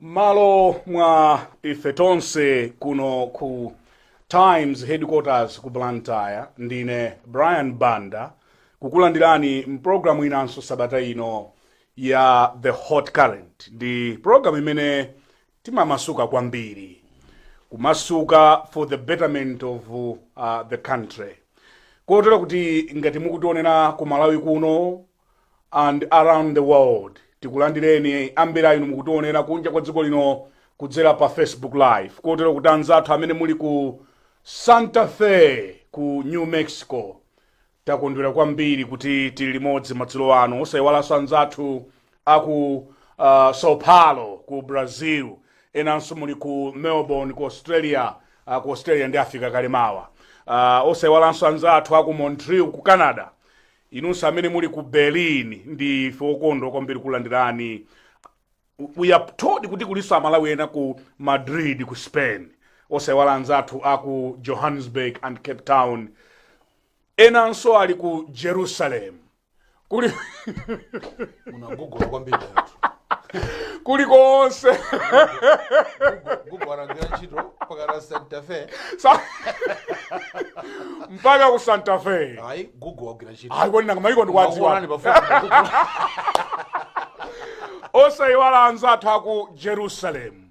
m'malo mwa ife tonse kuno ku times headquarters ku blantyre ndine brian banda kukulandirani mpulogalamu inanso sabata ino ya the hot current ndi pulogalamu imene timamasuka kwambiri kumasuka for the betterment of uh, the country kotero kuti ngati mukutionera ku malawi kuno and around the world tikulandireni ambiri a inu mukutiwonera kunja kwa dziko lino kudzera pa facebook live kotero kuti anzathu amene muli ku santa fe ku new mexico takondwera kwambiri kuti tili limodzi madzulo ano osayiwalanso anzathu aku uh, sao paulo ku brazil enanso muli ku melbourne ku australia uh, ku australia ndiye afika kale mawa uh, osayiwalanso anzathu aku montreal ku canada Inunso amene muli ku Berlin ndife okondwa kwambiri kulandirani. We are told kuti kulinso Amalawi ena ku Madrid ku Spain, osaiwala anzathu a ku Johannesburg and Cape Town, enanso ali ku Jerusalem kuli munagugola kwambiri anthu kulikonse gugu anagwira ntchito mpakana santa fe Sa- mpaka ku santa fe ayi gugu wagwira ntchito ayi kodi nanga maiko ndikuwadziwa Akuonani pafupi na Gugu. osayiwala anzathu aku jerusalemu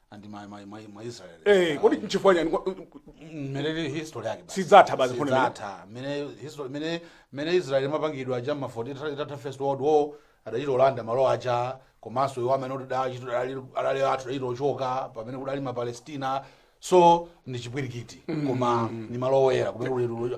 and my my my my Israel. Eh, kodi nchifukwa chani kwa- mmene history yake basi. Sidzatha basi mfundo imene. Sidzatha. Mmene history mmene mmene Israel imapangidwa cha mma 40 itatha first world war adachita olanda malo aja komanso iwo amene odali adali athu adachita ochoka pamene kudali ma Palestina so ndi chipwirikiti koma ni malo oyera kumene kuli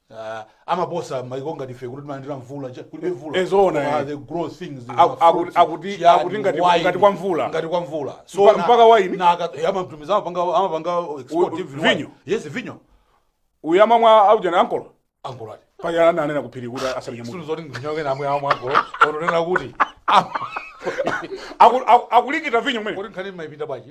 Ah, amaposa maiko ngati ife kuti timalandira mvula cha- kulibe mvula Eh, zoona, Koma eh. they grow things in Aku- the aku- fruits, akuti- chiyani, akuti ngati- wine, ngati kwa mvula. ngati kwa mvula Mpa- na- mpaka wine? na aka- eh, amatumiza amapanga amapanga export U- even vinyo? wine. yes vinyo uyu amamwa aujana ankolo angolati paya ananena kuphiri kuti asanyamuke sulu yoti ndinyoke namwe amwe angolo ononena kuti am- Aku- aku- akulikita vinyo mwene kuti nkhani mmaipinda bwaji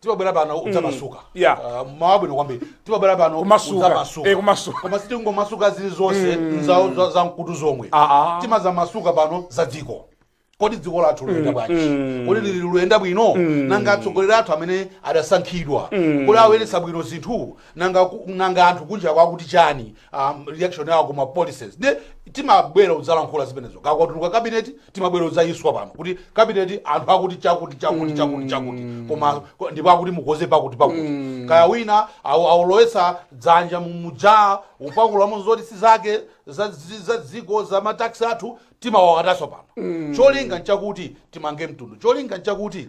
timabwera pano udzamasuka Mm. Yeah. Ah, mawu abwino kwambiri timabwera pano Kumasuka. udzamasuka. Eh, kumasuka. koma sitingomasuka zili zonse za- za- za mkutu zomwe Ah, ah. timazamasuka pano za dziko kodi dziko lathu luyenda bwanji kodi lili luyenda bwino nanga atsogoleri athu amene adasankhidwa kodi ayendetsa bwino zinthu nanga ku- nanga anthu kunjako akuti chani um, reaction yawo kuma policies nde timabwera udzalankhula zimenezo kukatuluka kabineti timabwera udzayiswa pano kuti kabineti anthu akuti chakuti chakuti chakuti chakuti koma ko- ndipo akuti mukoze pakuti pakuti kaya wina awu- awulowesa dzanja mu- muja ukapakulamo zoti si zake za zi- za dziko za mataxi athu timawagwatanso pano cholinga nchakuti timange mtundu cholinga nchakuti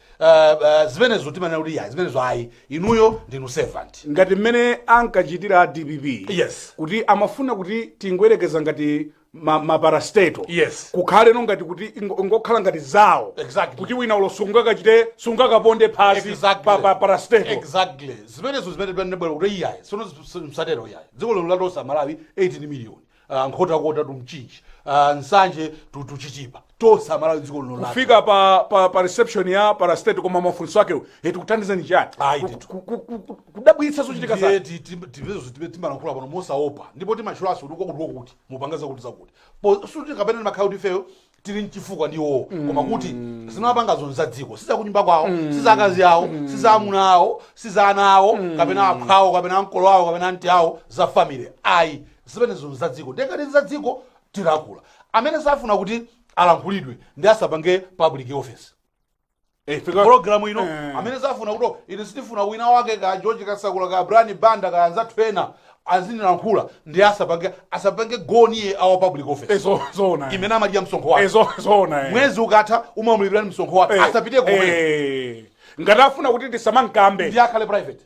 uh, uh, zimenezo timanena kuti iyayi zimenezo ayi inuyo ndinu servant ngati mmene ankachitira a dpp Yes. kuti amafuna kuti tingoyerekeza ngati ma- maparastato Yes. kukhale no ngati kuti ingo- ingokhala ngati zawo Exactly. kuti wina ulo sungakachite sungakaponde phazi Exactly. pa, pa parastato exactly zimenezo zimene tinabwera kuti iyayi sono msatero iyayi dziko lino la tonse amalawi 18 million Ah, nkhotakota to mchinji Ah, nsanje to to chitipa tonse amalawi dziko lino lake fika pa, pa, pa reception ya parastate koma mafunso akewo e tikuthandizeni chani Ayi, Ku- ndithu. ku- ku- ku- ku- kudabwitsa zochitika Ndiye zake ti- ti- tipezo zitipe timalankhula pano mosaopa ndipo timatchulanso kuti kwakuti kwakuti mupanga zakuti zakuti Po- sikuti kapena timakhala kuti ifeyo tili nchifukwa ndi iwowo koma kuti zimene apangazo ni za dziko si za kunyumba kwawo si za akazi awo si za amuna awo si za ana awo kapena aphwa awo kapena ankolo awo kapena anti awo za family ayi zimenezo ni za dziko nde ngati za dziko tilankhula amene safuna kuti alankhulidwe nde asapange public office Eh, ife ka- pologalamu ino Eh. amene safuna kuti ine sindifuna wina wake ka george kasakula ka brian banda ka anzathu ena azinilankhula nde asapange asapange go near a public office Eh, zo- zoona eh. imene amadya msonkho Eh, wake zo- zoona eh. mwezi ukatha umamulipira ni msonkho wake Eh, asapite komwe eh. ngati afuna kuti tisamamkambe nde akhale private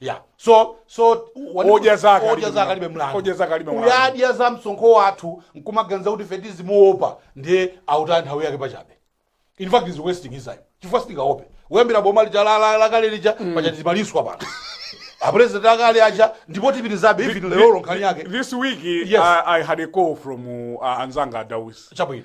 ya so so odya zake odya zake alibe mlandu odya zake alibe mlandu uyu adya za msonkho wathu nkumaganiza kuti ife tizimuopa ndiye autaya nthawi yake pachabe in fact he's wasting his time chifukwa sitingaope kuyambira boma lija la- la- lakale lija pacha tizimaliswa pano apresident akale aja ndipo tipitizabe even lero nkhani yake this week Yes. I, i had a call from uh, anzanga adawis chabwino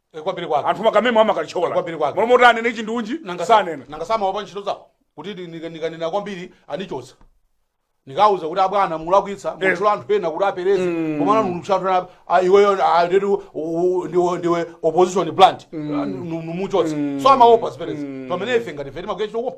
Eh, kwambiri kwake anthu makamemo Kwambiri amakalichokola kwake. molomo kuti anene chindunji Nanga- sanena nanga si amaopa ntchito zawo kuti ndi- nika- nikanena kwambiri anichotsa nikauza kuti abwana mulakwitsa mutchula anthu ena kuti apereze komana mutchula anthu ena ah, iweyo ah, nditu, u- u- ndiwe ndiwe opposition plant Ah, nu- numuchotsa so amaopa zimenezi pamene ife ngati ife timakuya chitokopa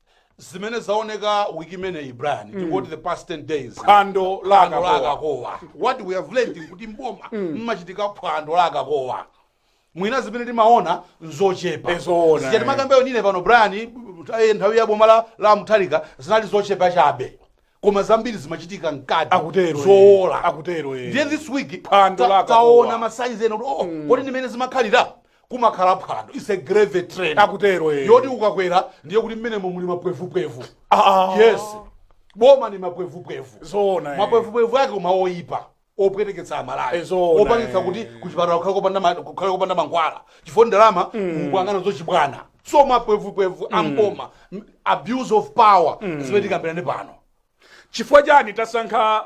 zimene zaoneka wiki imeneyi brian mm. tingoti the past 10 days phwando la phwando la akakowa akakowa what we have learned kuti mboma mmachitika phwando la akakowa mwina zimene timaona nzochepa Eh zoona, Zija eh. timakambayo nine pano brian eh, nthawi ya boma la, la mutharika zinali zochepa chabe koma zambiri zimachitika mkati Akutero, eh. zowola Akutero, eh. ndiye this week Phwando ta- la akakowa. taona masayizi ena kuti oh kodi ndimene zimakhalira kumakhala phwando its a gravy train Akutero, eh. yoti ukakwera ndiye kuti mmenemo muli mapwevupwevu Ah. yes boma ni mapwevupwevu Zoona, eh. mapwevupwevu ake koma oyipa opweteketsa amalawi Eh, zoona, opangitsa eh. kuti kuchipatala kukhale kopanda ma- kukhale kopanda mankhwala chifukwa ndalama mukuyang'ana zachibwana so mapwevupwevu amboma m- abuse of power zimene tikambirane pano chifukwa chani tasankha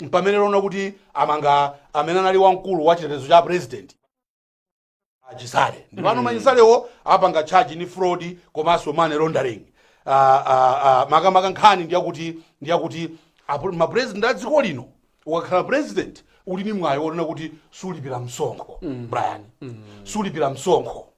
mpamene lona kuti amanga amene anali wamkulu wa chitetezo cha president achisale ndipano achisalewo apanga charge ni fraud komanso money laundering Ah, ah, ah, makamaka nkhani ndiyakuti ndiyakuti apo- ma president a dziko lino ukakhala president uli ni mwayi wonena kuti sulipira msonkho brian sulipira msonkho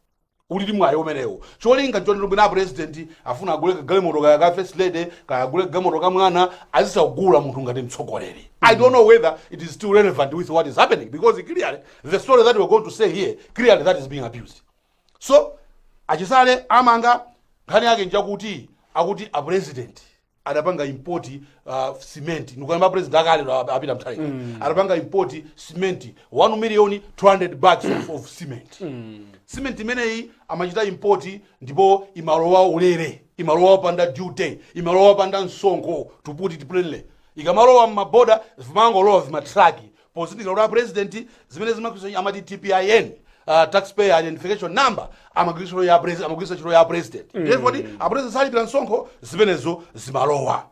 ulidi mwayi umenewo cholinga nchoti mwina apresident afuna agule kagalimoto kaya ka first lady kaya agule kagalimoto ka mwana azisagula munthu ngati mtsogoleri i don't know whether it is still relevant with what is happening because clearly the story that we're going to say here clearly that is being abused so achisale amanga nkhani yake njakuti akuti apresident adapanga import uh, cement ndikukamba a president akale ndo ap- a peter mutharika adapanga import cement 1 million 200 bags of, of cement cement imeneyi amachita import ndipo imalowa ulere imalowa opanda duty imalowa opanda msonkho to put it plainly ikamalowa mmaboda vimangolowa vimatraki pozindikira kuti apresident zimene zimakhwiso amati tpin uh, taxpayer identification number amagwiritsa ntchito ya pres- amagwiritsa ntchito ya president ndiye kuti apresident salipira msonkho zimenezo zimalowa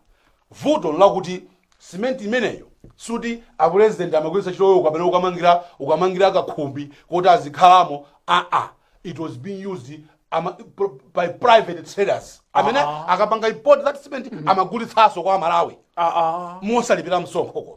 vuto nlakuti simenti imeneyo suti apresident amagwiritsa ntchitoyo kapena ukamangira ukamangira kakhumbi kuti azikhalamo aa it was being used ama, pr- by private traders amene akapanga import that cement amagulitsanso kwa amalawi Ah, ah. mosalipira msonkho koma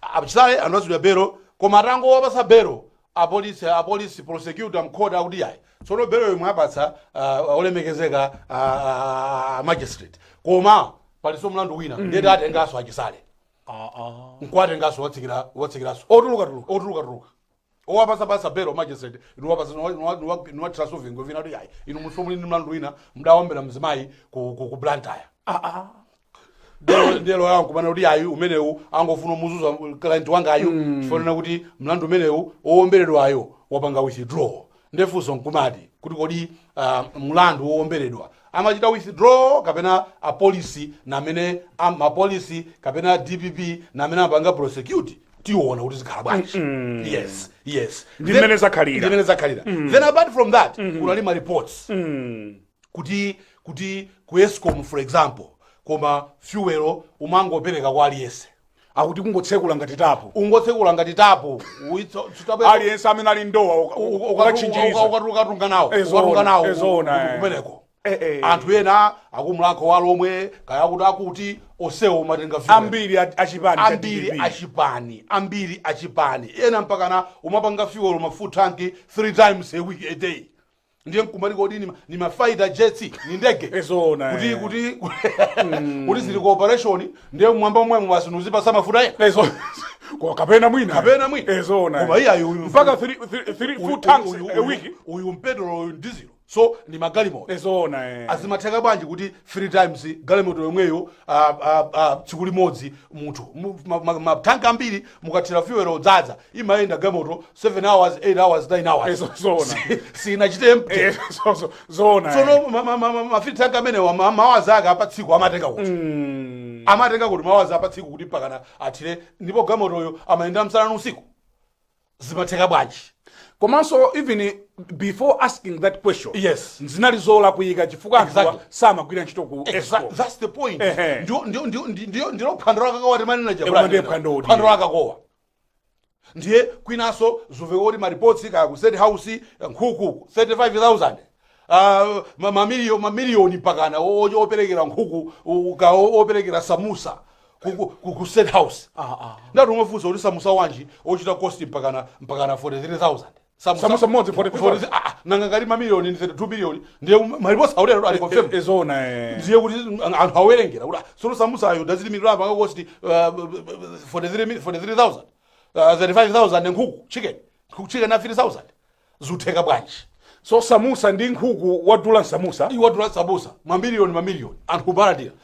achisale anapatsidwa bero koma atangowapasa bero apolisi apolisi prosecutor mkhoti akuti yayi tsono bero yomwe apatsa ah, olemekezeka ah, ah, ah, magistrate koma palinso mlandu wina nde tiatenganso achisale nkuwatenganso watsekera watsekeraso otuluka tuluka otuluka tuluka owapasa pasa belo magistrate niwapasa niwathiraso vingwe vina kuti ayi inunso muli ni mlandu wina mudawombera mzimayi ku, ku, ku blantyre aa Nde lo- nde loya nkumanena kuti ayi umenewu angofuna muzuza client wangayu chifukwa chonena kuti mlandu umenewu owomberedwayo wapanga withdraw nde funso nkumati kuti kodi uh, mlandu wowomberedwa amachita withdraw kapena apolisi namene am- mapolisi kapena dpp namene amapanga prosecute tiona kuti zikhala bwanji yes yes Ndi Then- mmene zakhalira. ndi mmene zakhalira then apart from that kunali ma reports kuti kuti ku escom for example koma fuel umangopereka kwa aliyense akuti kungotsekula ngati tapu ungotsekula ngati tapu uitso- tsitabe- aliyense amene ali ndowa uka- uka- uka- ukachinjiriza uka- uka- ukatunga nawo Eh, zoona, ukatunga nawo eh, zoona, eh. kumeneko Eh, eh. anthu ena aku mulhako wa alhomwe kaya kuti akuti osewo umatenga vile. ambiri a- achipani cha ambiri DPP. achipani ambiri achipani ena mpakana umapanga fuel ma full tank three times a week a day ndiye nkumati kodi ni ma- ni ma fighter jets ni ndege Eh, zoona, kuti eh. kuti kuti zili ku operation ndiye mwamba momwemo basi nuzipasa mafuta ena Ezo. Kwa kapena mwina. Kapena mwina. Ezo na. Koma iyayi uyu- Mpaka 3 3 Uyu- 4 tanks uyu- a uyu- week. uyu petulo uyu dizilo so ni magalimoto Ezo na. eh. azimatheka bwanji kuti three times galimoto yomweyo ah, ah, ah, tsiku limodzi munthu Mu- ma- ma- matanki ambiri mukathira fuel odzadza imayenda gamoto 7 hours 8 hours 9 hours Ezo zoona. sinachite empty Eh, so- so- zoona eh. sono ma- ma- ma- ma- mafuta ake amenewa ma- maola ake apatsiku amatenga kuti Mm. amatenga kuti maola apatsiku kuti mpakana athire ndipo gamotoyo amayenda msana usiku zimatheka bwanji komanso even before asking that question Yes. zinali zolakwika chifukwa anthuwa Exactly. samagwira ntchito ku Exa- escom that's the point Ehe. Ndio- ndio- ndio- ndio- ndio- ndiyo pfundo yaikuluyo timanena Ewa ndiye phandowo, ndiye. phando lakakowa ndiye kwinaso zuveka kuti maripotsi kaya ku state house nkhuku 35000 Uh, ma- mamiliyo- mamiliyoni mpakana o- o- operekera nkhuku u- ka o- operekera samusa ku- ku- ku ku state house ndiyetu umafunsa kuti samusa wanji ochita cost mpakana mpakana 43000 Samusa- Samusa mmodzi, 40 people. 40, ah, ah, nanga ngati mamiliyoni ndi 32 miliyoni ndiye maripotsi aulere ali confirm E- ezona eh. ndiye kuti anthu awerengera kuti ah, sono samusayo unit imodzi ya panga cost 43000 35000 nkhuku chicken nkhuku chicken a 3000 zutheka bwanji so samusa ndi nkhuku wadula samusa iwadula samusa mamiliyoni mamiliyoni anthu kumalandira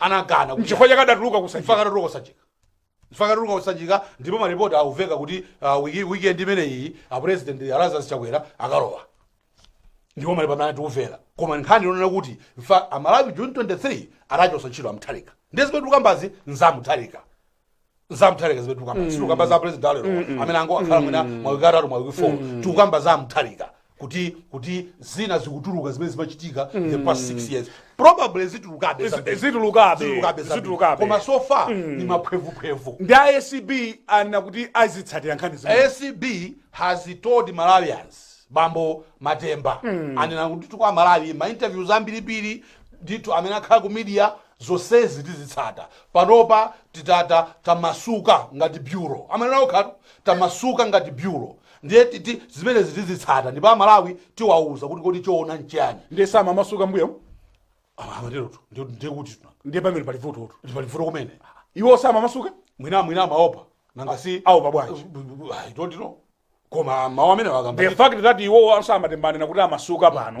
anakana kuti- N'chifukwa chake adatuluka kusanjika. N'chifukwa chake adatuluka kusanjika N'chifukwa chake adatuluka kusanjika ndipo maripoti akuveka kuti ah, wiki- weekend imeneyi a president Lazarus chakwera akalowa ndipo maripoti tikumvera koma nkhani yonena kuti amalawi june 23 adachosa ntchito amutharika ndiye zimene tikukambazi nzamutharika za mtharika zimene tikukamba sitikukamba za president alero amene angokhala mwina mawiki atatu mawiki four tikukamba za mtharika kuti kuti zina zikutuluka zimene zimachitika in the past six years probably zitulukabe zambiri. zitulukabe, Zitulukabe zambiri. zitulukabe. koma so far ni maphwevuphevu ndi a acb anena kuti azitsatira nkhani zimene acb has told malawians bambo matemba anena kuti tiuza amalawi ma interviews ambirimbiri ndithu amene akhala ku media zonsezi tizitsata Panopa titi tamasuka ngati Bureau. Amanena okhatu, tamasuka ngati Bureau. Ndiye titi zimenezi tizitsata ndipo a Malawi tiwauza kuti kodi choona nchiyani. Ndiye samamasuka mbuyomu? Ah, Amaterotu, ndiye ndiye kuti tuna. Ndiye pamene pali vutotu. Ndi pali vuto kumene. Iwo samamasuka? Mwina mwina amaopa. Nanga si Aopa bwanji? I don't know. Koma mawu amene wakamba. The fact that iwo a Matemba anena kuti amasuka pano.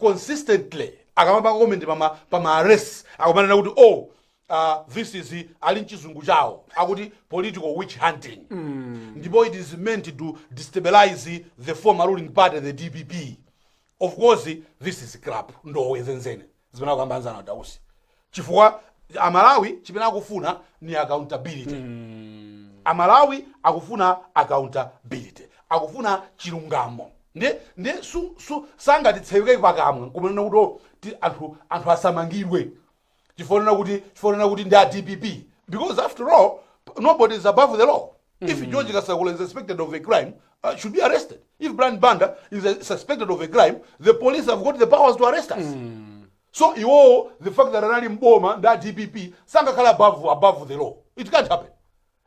consistently akamapanga comment pama pama arrests akumanena kuti oh uh, this is ali mchizungu chawo akuti political witch hunting ndipo it is meant to destabilize the former ruling party the dpp of course this is crap ndowe zenizeni zimene akukamba anzathu a dausi chifukwa amalawi chimene akufuna ni accountability amalawi akufuna accountability akufuna chilungamo ndi ndi su, su, sangatitseweke pakamwa kumanena kuti "Oh, ti- anthu anthu asamangidwe chifukwa kuti chifukwa kuti ndi a dpp because after all nobody is above the law if george kasakula is suspected of a crime uh, should be arrested. If Brian Banda is uh, suspected of a crime, the police have got the powers to arrest us. So iwowo the fact that anali mboma nda DPP sangakhala above above the law. It can't happen.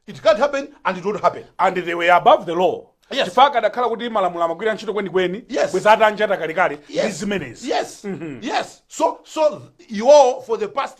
It can't happen and it won't happen. and they were above the law Yes. chifukwa kadakhala kuti malamulo amagwira ntchito kwenikweni Yes. bweza atanjata kalekale ndi zimenezi Yes. Yes. So so th- iwowo for the past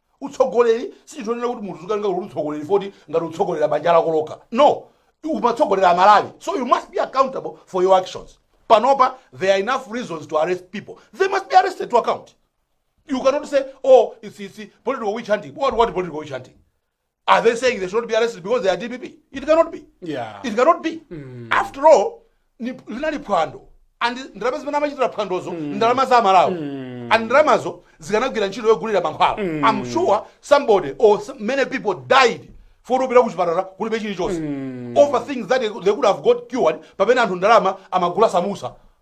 Utsogoleri sichinthu chonena kuti munthu uzikatenga kuti utsogoleriwo ngati ngati utsogolera banja lako lokha. No. Umatsogolera Amalawi. So you must be accountable for your actions. Panopa there are enough reasons to arrest people. They must be arrested to account. You cannot say, oh, it's, it's political witch hunting. What, what political witch hunting? Are they saying they should not be arrested because they are DPP? It cannot be. Yeah. It cannot be. Mm. After all, ni- linali phwando and ndalama zimene amachitira phwandozo ndalama za amalawi and ndalamazo zikanagwira ntchito yogulira mankhwala i'm sure somebody or s- many people died for kupita kuchipatala kulibe chilichonse over things that they could have got cured pamene anthu ndalama amagula samusa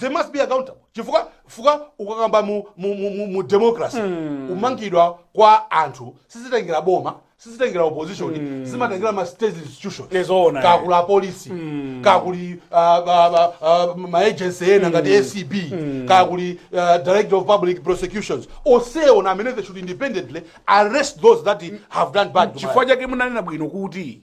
they must be accountable chifukwa chifukwa ukakamba mu, mu, mu, mu, mu democracy kumangidwa kwa anthu sizitengera boma sizitengera opposition zimatengera ma state institutions Nizoona, eh. kukuli apolisi kakuli ah, ba- ba- ah, maagency ena ngati acb kukuli ah, director of public prosecutions onsewo ndi amene they should independently arrest those that have done bad to chifukwa chake munanena bwino kuti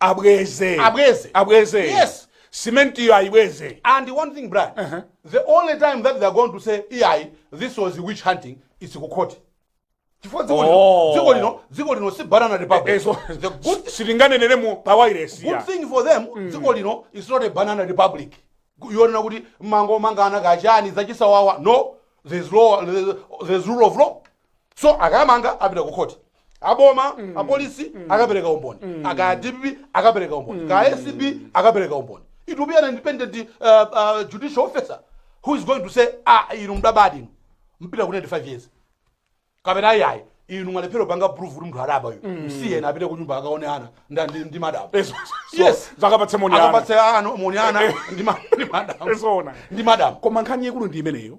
abweze Abweze. abweze Yes. simentiyo ayibweze And one thing, Brian, Uh-huh. the only time that they're going to say, EI, this was witch hunting, it's Kukoti. Chifukwa dziko lino- Oh. dziko lino- dziko lino si banana republic. ezo The good, silinganenere mu pawairesi good thing for them, dziko lino is not a banana republic. Yonena kuti mango mangana kachani zachisawawa. No, there's law, there's, there's rule of law. so akamanga apita ku khoti aboma apolisi akapereka umboni kaya dpp akapereka umboni kaya acb akapereka umboni it will be an independent uh, uh, judicial officer who is going to say ah inu mudabadi inu mupita kundende 5 years kapena ayayi inu mwalephera kupanga proof kuti munthu adaba uyu msiyeni apite kunyumba akaone ana nda- ndi ndi madam Yes. yes akapatse moni ana. akapatse ana moni ana ndi ma- ndi madam Yes, ona. ndi madam koma nkhani yaikulu ndi imeneyo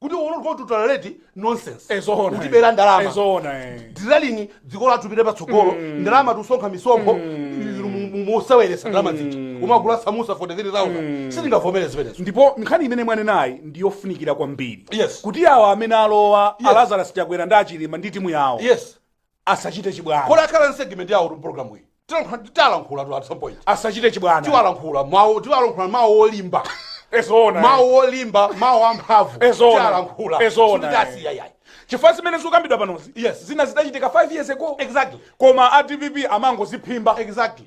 kuti we're not going to tolerate nonsense Eh, zoona, kutibera eh. ndalama Eh, zoona, eh. zizalini dziko lathu lipite patsogolo ndalama tikusonkha misonkho inu mu- mu- mukuseweretsa ndalama zija kumagula samusa 43000 sitingavomere zimenezo ndipo nkhani imene mwanenayi ndi yofunikira kwambiri Yes. kuti awa amene alowa Yes. alazarus chakwera ndi achilima ndi timu yawo yes asachite chibwana komanso akhala ndi segment yawo mu program iyi Tilankhula- tilankhula tu at some point asachite chibwana tiwalankhula mawu tiwalankhula mawu olimba ezoona mawu olimba mawu amphamvu Ezoona. tiwalankhula Ezoona. sitisiya yayi chifukwa zimene zikukambidwa panozi Yes. zina zidachitika 5 years ago exactly koma a dpp amangoziphimba exactly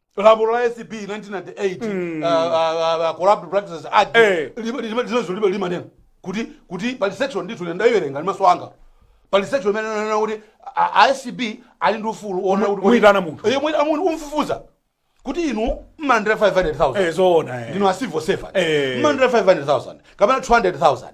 lamulo la acb 1998 corrupt practices act Eh. lima- lima- limezo libe limanena kuti kuti pali section ndithu ine ndayiwerenga ndi maso anga pali section imene inanena kuti a- a acb ali ndi ufulu woona kuti- Muyitana munthu. Eh, muyitana munthu umfufuza kuti inu mmalandira 500000 Eh, zoona eh. ndinu a civil servant Eh. mmalandira 500000 kapena 200000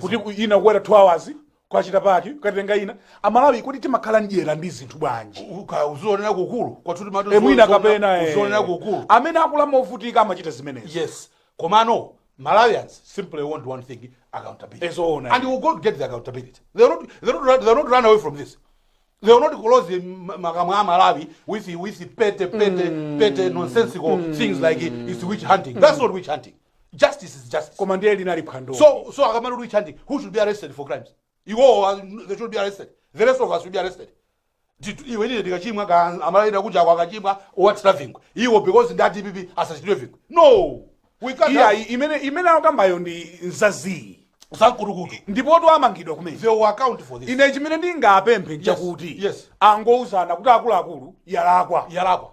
kuti ku- ina kukwera 2 hours kwachita paki kukatenga ina amalawi kuti timakhala mdyera ndi zinthu bwanji uzionera kukulu kwathu timati Eh, mwina kapena eh. uzionera kukulu amene akula movutika amachita zimenezo yes komano malawians simply want one thing accountability Yes, oh, no. and we will go to get the accountability they will not, they will not, they will not run away from this they will not close the ma- makamwa a malawi with the- with the petty petty petty nonsensical things like it, it's witch hunting that's not witch hunting justice is justice koma ndiye linali phwando so so akamati witch hunting who should be arrested for crimes iwowo uh, they should be arrested the rest of us should be arrested Titu- iwe ndine ndikachimwa ka amalawi kunja ako akachimwa awathire vingwe iwo because ndi adpp asathire vingwe no we can't iya have- imene imene akambayo ndi nzazii zankutukutu ndipo timangidwa kumene they will account for this ine chimene ndingapemphe nchakuti yes. angouzana kuti akuluakulu yalakwa yalakwa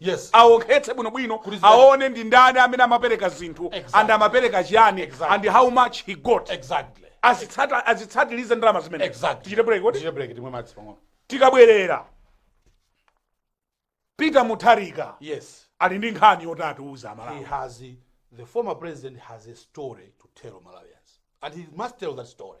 Yes. awonkhetse bwinobwino Kuti zidali- aone ndi ndani amene amapereka zinthu Exactly. and amapereka chiyani Exactly. and how much he got Exactly. Azitsata- azitsatirize ndalama zimene Exactly. tichite break kodi Tichite break timwe madzi pang'ono. tikabwerera peter mutharika Yes. ali ndi nkhani yoti atiuza He amalawi has the former president has a story to tell Malawians. And he must tell that story.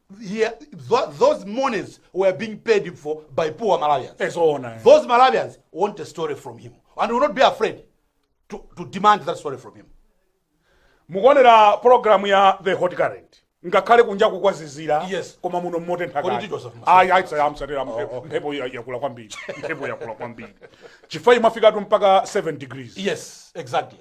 Here, tho- those monies were being paid for by poor Malawians. Eh, zoona, eh. Those Malawians want a story from him and will not be afraid to, to demand that story from him. mukuonera programu ya the hot current ngakhale kunja kukuzizira Yes. koma muno mmotentha Kodi kale. ticho safu- Ayi, ayi, safu- amsatira mphepo- mphepo ya- yakula kwambiri mphepo yakula kwambiri chifukwa imafikatu mpaka 7 degrees Yes, exactly.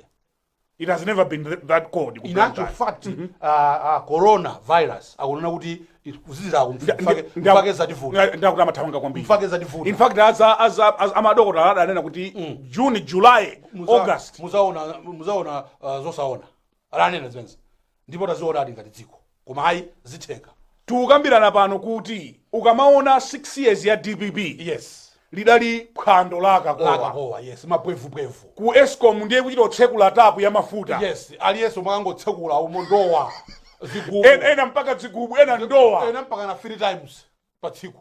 it has never been th- that cold ku in actual Blantyre. fact uh, uh, corona virus akunena kuti kuzizirako Nda- nda- nda- mchake zativuta nda- ndakuti amathamanga kwambiri mchake in zativuta fact aza aza aza- amadokotala adanena kuti june july august muzaona muzaona uh, zosaona adanena zimenezi ndipo tazionadi ngati dziko koma ayi zitheka tikukambirana pano kuti ukamaona 6 years ya dpp yes lidali phwando la akakowa lakakowa yes mapwevupwevu ku escom ndiye kuchita kotsekula tapu ya mafuta yes aliyense mwakangotsekula umo ndowa zigubu En- ena mpaka dzigubu ena ndowa ena mpaka na three times pa tsiku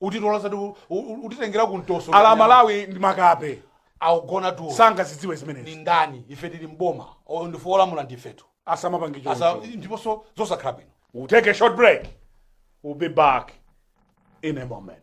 utitola zati u- u- utitengera ku mtoso Amalawi ndi makape akugona tulo sangazidziwe zimenezi ni ndani ife tili mboma ndife olamula ndifetu asamapange choncho ndiponso zosakhala bwino we'll take a short break we'll be back in a moment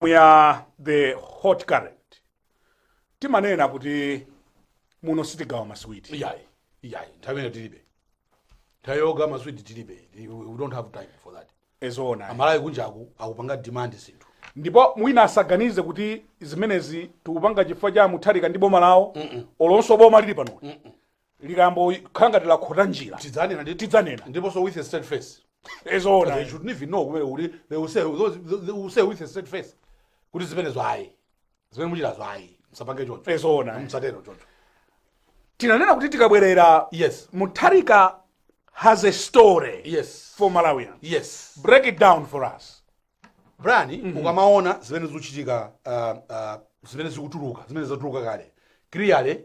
we are the hot current timanena kuti muno sitigawa maswiti iyayi iyayi nthawi yake tilibe nthawi yogawa maswiti tilibe we we don't have time for that e zoona amalawi kunjaku akupanga demand zinthu ndipo mwina asaganize kuti zimenezi tikupanga chifukwa cha mutharika ndi boma lawo olo nso boma lili pano likangokhala ngati lakhota njira tidzanena ndi tidzanena ndiponso with a straight face e zoona they shouldn't even know kumene kuti they will say with a straight face kuti zimenezo ayi zimene mukuchitazo ayi musapange choncho Eh, zoona, eh. musatero choncho tinanena kuti tikabwerera yes mutharika has a story yes for malawians yes break it down for us brian ukamaona zimene zikuchitika uh, uh, zimene zikutuluka zimene zatuluka kale clearly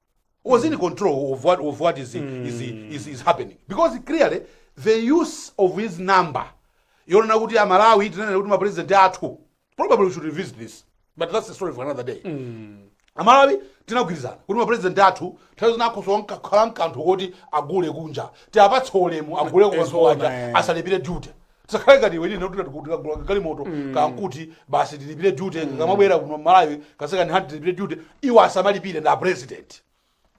was in control of what, of what is, is, is, is happening because clearly the use of his number yoonetsa kuti amalawi tinanena kuti mapresident athu probably we should revisit this but that's a story for another day amalawi tinagwirizana kuti mapresident athu nthawi zina akhoza kukhala nkanthu koti agule kunja tiapatse ulemu agule kunja eh. asalipire duty tisakhale ngati iwe ndi ine kuti tikagula galimoto kamkuti basi tilipire duty ikamabwera kuno malawi ka second hand tilipire duty iwo asamalipire ndi president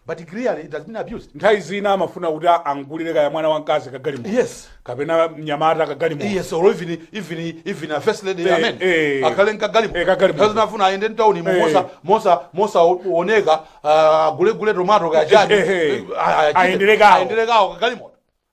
but clearly it has been abused nthawi zina amafuna kuti a- amugulire kaya mwana wamkazi kagalimoto yes kapena mnyamata kagalimoto yes or even even even a first lady Eh, amen eh. akhale nkagalimo Eh, kagalimo. nthawi zina afuna aende mtaunimu Eh. mosa mosa mosaoneka akagule gule tomato kaya chani Eh, eh. Ah, ah, chite. Aendele kawo. aendele kawo kagalimo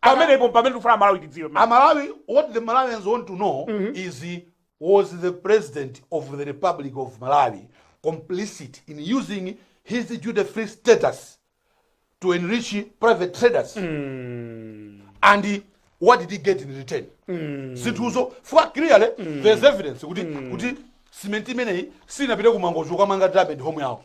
pamenepo pamene tikufuna malawi tidziwe pamene. amalawi what the malawians want to know is uh, was the president of the republic of malawi complicit in using his duty free status to enrich private traders and uh, what did he get in return zinthuzo chifukwa clearly there's evidence kuti kuti simenti imeneyi sinapite ku mangochi kukamanga diamond home yawo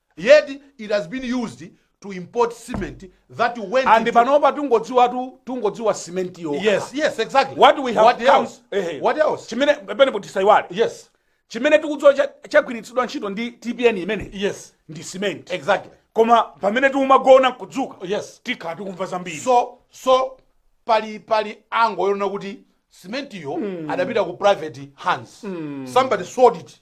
yet it has been used to import cement that went and into... panopa tungodziwatu tungodziwa cement yo yes yes exactly what we have what come, else eh, what else chimene pene tisaiwale yes chimene tikudziwa chagwiritsidwa ntchito ndi tpn imene yes ndi cement exactly koma pamene tiumagona kudzuka yes tikhala tikumva zambiri so so pali pali angle yonena kuti cement yo mm. adapita ku private hands mm. somebody sold it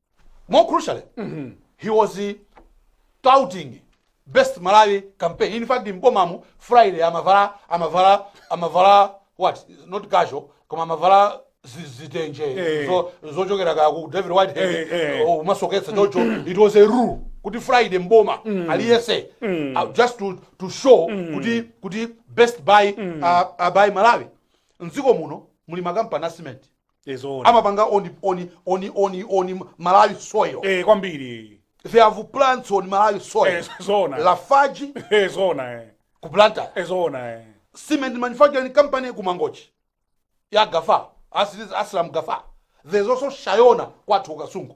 more crucially he was uh, touting best buy malawi campaign in fact m'bomamu friday amavala amavala amavala what not casual koma amavala zi- zitenje Eh. zo- zochokera ka ku david whitehead Eh, eh. oh, umasoketsa chocho it was a rule kuti friday m'boma aliyese uh, just to, to show kuti kuti best buy uh, uh, buy malawi mdziko muno muli makampani a cement Eh, zoona. amapanga on, on, on, on, on malawi soil Eh, kwambiri they have plants on malawi soil Eh, zoona. lafaji Eh, zoona eh. ku blantyre Eh, zoona eh. cement manufacturing company ku mangochi ya gafa Asli- aslam gafa there's also shayona kwathu ku kasungu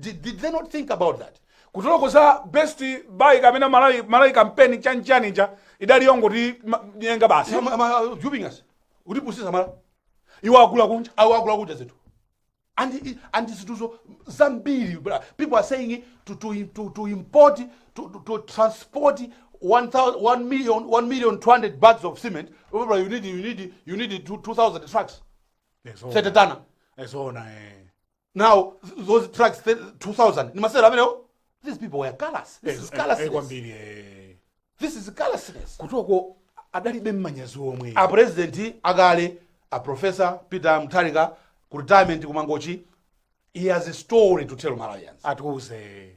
Did, did they not think about that? Kutoloko za best buy kapena Malawi Malawi campaign chan chan ija idali yongoti ma- nyenga basi. Am- am I duping us? Utipusisa mala. Iwo akula kunja. Awo akula kunja zinthu. And i- and zinthuzo zambiri bra. People are saying to to to, to import to, to, to transport 1000 1 million 1 million 200 bags of cement. Remember you need you need you need 2000 trucks. Ezo. Setetana. Ezo na eh. now th- those tracks th- 2000 ni masewero amenewo these people were callous this is callousness kwambiri eh. this is callousness kutoko adalibe mmanyazi omwe a president akale a professor peter mutharika ku retirement kumangochi he has a story to tell malawians atiuze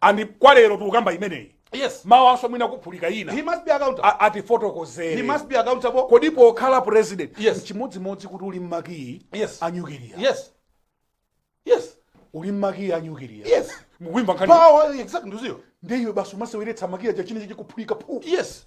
and kwa lero tikukamba imeneyi yes mawanso mwina kuphulika ina he must be accountable A- he atifotokozere must be accountable kodi pokhala president Yes. chimodzimodzi kuti uli ndi makiyi Yes. a nyukiliya yes yes uli ndi makiyi a nyukiliya Yes. mukuimba nkhani power exactly ndiye ndiye iwe basi umaseweretsa makiyi aja china chikuphulika phu yes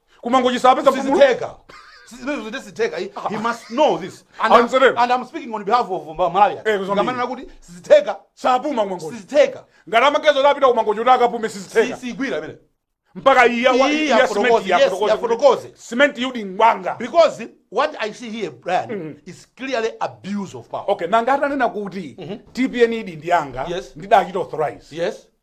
kumangochi sapeza mpumulo sizitheka zimenezo site sitheka he, he must know this and, I'm, Amtseleni. and i'm speaking on behalf of Mba- malawi Eh, kuzambiri. ngati amanena kuti sizitheka sapuma kumangochi sizitheka ngati amakedzo tapita kumangochi kuti akapume Si- sizitheka siigwira imene mpaka iye wa- Iyi iye afotokoze, simenti yes, afotokoze afotokoze. kuti simenti yodi ngwanga because what i see here brian is clearly abuse of power okay nanga atanena kuti tpn idi ndiyanga Yes. ndidachita authorize yes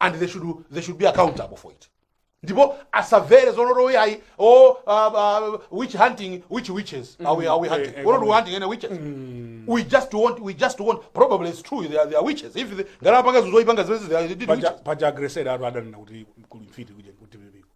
and they should, they should be accountable for it ndipo asavere zonoto uyayi o uh, uh, witch hunting witch witches mm. are we, are we hunting eh, eh, we're not hunting any witches mm. we just want we just want probably it's true they are, they are witches if the ngalapanga zuzoipanga zimene they are did witches paja agresera atu adanena kuti kuli mfiti kuja kuti bibiko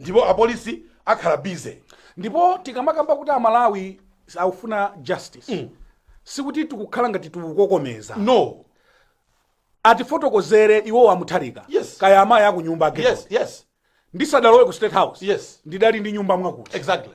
ndipo apolisi akhala busy ndipo tikamakamba kuti amalawi akufuna justice mm. sikuti tikukhala ngati tikukokomeza no atifotokozere iwo amutharika yes. kaya amayi a ku nyumba yes, yes. ndisadalowe ku state house yes. ndidali ndi nyumba mwakuti exactly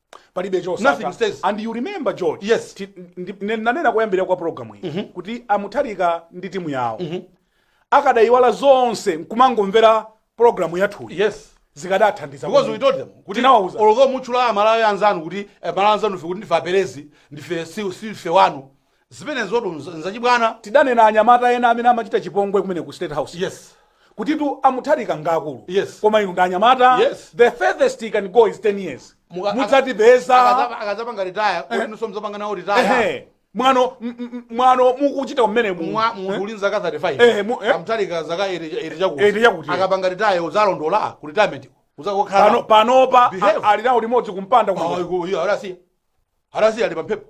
palibe Nothing chosaka stays. and you remember george Yes. ti- ndi- ndi- nanena kuyambirira kwa programu iyi kuti amutharika ndi timu yawo akadayiwala zonse nkumangomvera programu yathuyi yes zikadathandiza because we kwambiri. told them kuti Tinawauza. although mukutchula amalawi anzanu kuti eh, malawi anzanu fe kuti ndife aperezi ndife si- sife wanu Zimenezotu nza- nzachibwana. Tidanena anyamata ena amene amachita chipongwe kumene ku State House. Yes. Kutitu a Mutharika ngaakulu. Yes. Koma inu ndi anyamata. Yes. The furthest he can go is 10 years. Muka- Mudzatipeza. Akazapa- Akazapanga retire, si kuti nunso muzapanga nawo retire. Ehe. Mwano m- m- mwano mukuchita kumene mu. Mwa- munthu uli ndi zaka 35. Eh, mu- eh. Amutharika zaka 80 80 chakuti. 80 chakuti. Akapanga retire uzalondola ku retirement. Uzakokhala. Pano panopa Behave. a- ali nawo limodzi kumpanda kuno. Ayi, ku- iyo, alasiya. Alasiya ali pamphepo.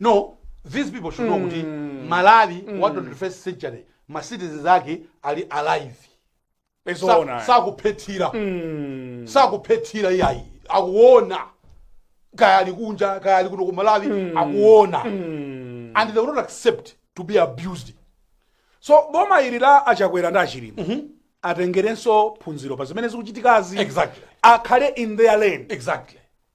no these people should know kuti malawi wa 21st century ma citizens ake ali alive Sa- Ezoona. sakuphethira sakuphethira iyayi akuona kaya ali kunja kaya ali kuno ku malawi akuona and they will not accept to be abused so boma ili la achakwera ndi achilima atengerenso phunziro pa zimene zikuchitikazi Exactly. akhale in their lane exactly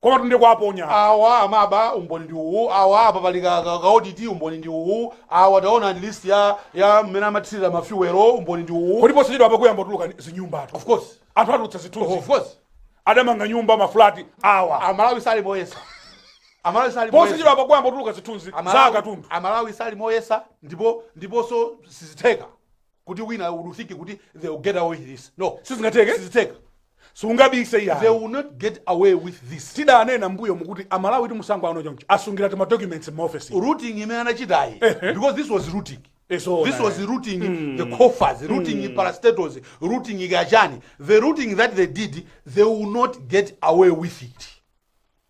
Komatu ndiye kuwaponya awa amaba, umboni ndi uwu, awa apa pali ka, ka, ka audit, umboni ndi uwu, awa taonani list ya ya mmene amathirira ma fuel, umboni ndi uwu. Ndipo posachedwa apa kuyamba kutuluka ni- zinyumbatu. Of course. Anthu atulutsa Of zithunzi. course. Adamanga nyumba mafulati awa. Amalawi sali moyesa. Amalawi sali moyesa. Posachedwa apa kuyamba kutuluka zithunzi za Amalawi- akatundu. Amalawi sali moyesa ndipo ndiponso sizitheka. kuti wina would think kuti they will get away with this no sizingatheke sizitheka sungabise iyayi they will not get away with this tidanena mbuyomu kuti amalawi ndi mtsango ano choncho asungira tima documents mu office looting imene anachitayi because this was looting It's all this right. was looting the coffers looting parastatals looting kaya chani the looting that they did they will not get away with it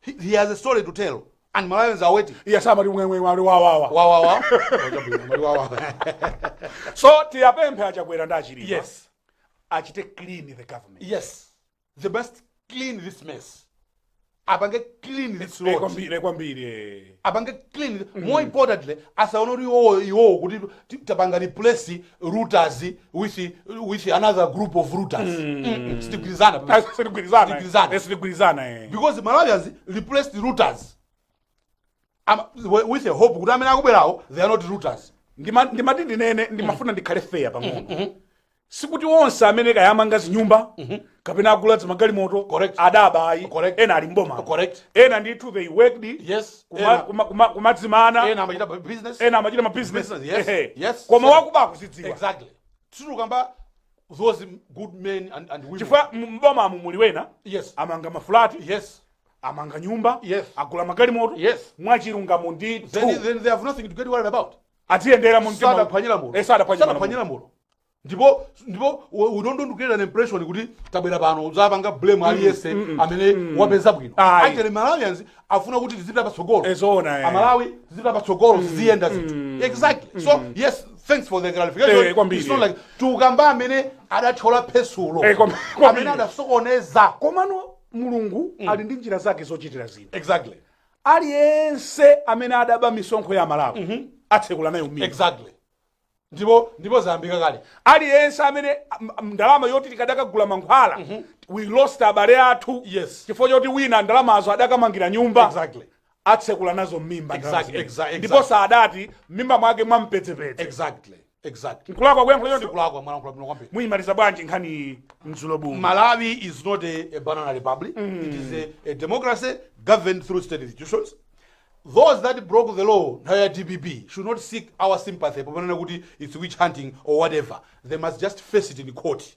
He, he has a story to tell and Malawians are waiting. Iye samati mwemwe wali wawawa. Wawawa. Wachabwino, mali wawawa. So tiwapemphe achakwera ndi achilima. Yes. Achite clean the government. Yes. They must clean this mess. Apange clean this rot. Kwambiri kwambiri. apange clean more importantly asaona kuti iwowo iwowo kuti ti- tapanga replace looters with with another group of looters Mm-mm, sitigwirizana pa- sitigwirizana Sitigwirizana. Eh, sitigwirizana eh. because malawians replaced looters Am- wi- with a hope kuti amene akubwerawo they are not looters Ndima- ndimati ndinene ndimafuna ndikhale fair pang'ono sikuti onse amene kaya amanga zinyumba kapena agula zimagalimoto Correct. adaba ayi Correct. ena ali mboma Correct. ena ndithu they worked yes kuma- ena- kuma- kuma- kumadzimana ena amachita bu- business ena amachita mabusiness Business, yes, Ehe. yes. koma So- wakuba akuzidziwa exactly sitikukamba those good men and, and women chifukwa m- mbomamu muli ena yes amanga mafulati yes amanga nyumba Yes. agula magalimoto Yes. mwachilungamo ndithu then, then they have nothing to get worried about asayende njira mu mtima sadaphwanye lamulo Eh, sadaphwanye sadaphwanye malamulo. lamulo ndipo ndipo u- we don't create an impression kuti tabwera pano tizapanga blame aliyense amene wapeza bwino Ayi. actually malawians afuna kuti tizipita patsogolo Eh, zoona, eh. amalawi tizipita patsogolo ziziyenda zinthu exactly so yes thanks for the Eh, clarification kwambiri. It's not like tukamba amene adachita phwasulo Eh, kwam- kwambiri. amene adasokoneza komano mulungu ali ndi njira zake zochitira zinthu exactly aliyense amene adaba misonkho ya malawi atsekula nayo mimba exactly ndipo ndipo zayambika kale aliyense amene m- m- ndalama yoti tikadakagula mankhwala we lost abale athu Yes. chifukwa choti wina ndalamazo adakamangira nyumba Exactly. atsekula nazo mimba ndalama Exactly, zimene. exactly, ndipo exactly. sadati mmimba mwake mwampedzepedze exactly exactly Nkulakwa kuyankhula choncho? kulakwa mwayankhula bwino kwambiri muyimaliza bwanji nkhani iyi mdzulo buno Malawi is not a, a banana republic. It is a, a democracy governed through state institutions. Those that broke the law, nthawi ya DPP, should not seek our sympathy, popanena kuti it's witch hunting or whatever. They must just face it in court.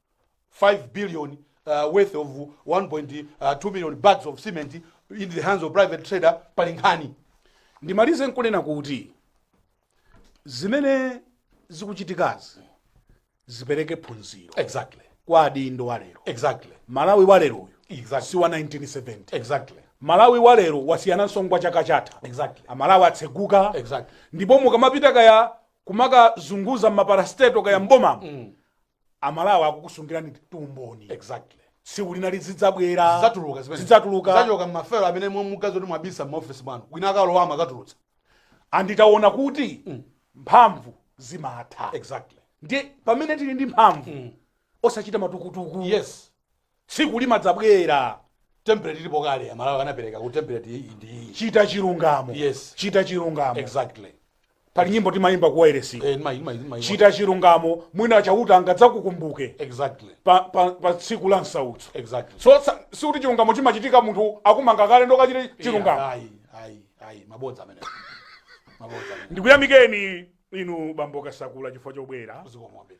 5 billion uh, worth of 1.2 million bags of cement in the hands of private trader pali nkhani ndimalize nkunena kuti zimene zikuchitikazi zipereke phunziro exactly kwa adindo walero exactly malawi walero uyu Exactly. si wa 1970 exactly malawi walero wasiyana nawo wa chaka chatha Exactly. amalawi atseguka Exactly. ndipo mukamapita kaya kumakazunguza mmaparasteto kaya mbomamo amalawi akukusungirani umboni exactly tsiku lina lizidzabwera zidzatuluka zimene zidzatuluka zachoka mmafelo amene mukuganiza kuti mwabisa m'maofesi mwanu wina akalowa akatulutsa anditaona kuti mphamvu zimatha exactly ndiye pamene tili ndi mphamvu osachita matukutuku yes tsiku limadzabwera template ilipo kale amalawi anapereka kuti template iyi ndi iyi chita chilungamo Yes. chita chilungamo exactly pali nyimbo timayimba ku wireless eh, nima- nima- nima- chita chilungamo mwina chauta angadzakukumbuke exactly pa, pa, pa tsiku la msautso exactly so sa- sikuti chilungamo chimachitika munthu akumanga kale ndiye kachite chilungamo Yeah, ayi ayi ayi mabodza amene mabodza amene ndikuyamikeni inu bambo kasakula chifukwa chobwera zikomo kwambiri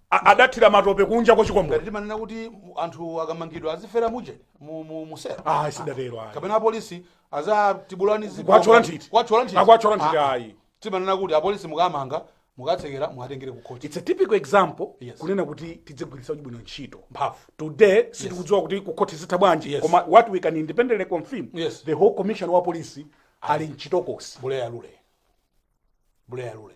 A- adathira matope kunja kwa chikombole ngati timanena kuti mu- anthu akamangidwa azifera muja mu- mu- muselo ayi sidatero ayi kapena apolisi azatibula zibomba- Kuwatchola nthiti. kuwatchola nthiti. Akuwatchola nthiti, Ah, ayi. timanena kuti apolisi mukamanga mukatsekera muwatengere kukhoti it's a typical example Yes. kunena kuti tidzigwiritsa bwino ntchito mphamvu today sitikudziwa kuti kukhoti zitha bwanji Yes. koma what we can independently confirm Yes. the whole commissioner wa polisi ali mchitokosi buleya lule buleya lule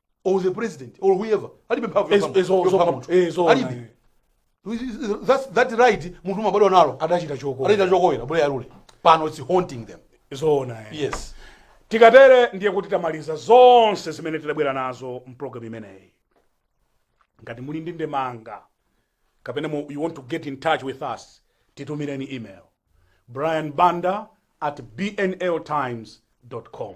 or the president or whoever alibe mphamvu Ezo- yopha- ezo- yopha zopha- munthu. ezo- alibe eh. That's- that right munthu umabadwa nalo adachita choko adachita chokowera buleya lule pano it's haunting them zoona eh. yes tikatere ndiye kuti tamaliza zonse zimene tidabwera nazo mpulogalamu imeneyi ngati muli ndi ndemanga kapena mu, you want to get in touch with us titumireni email brian banda at bnltimes com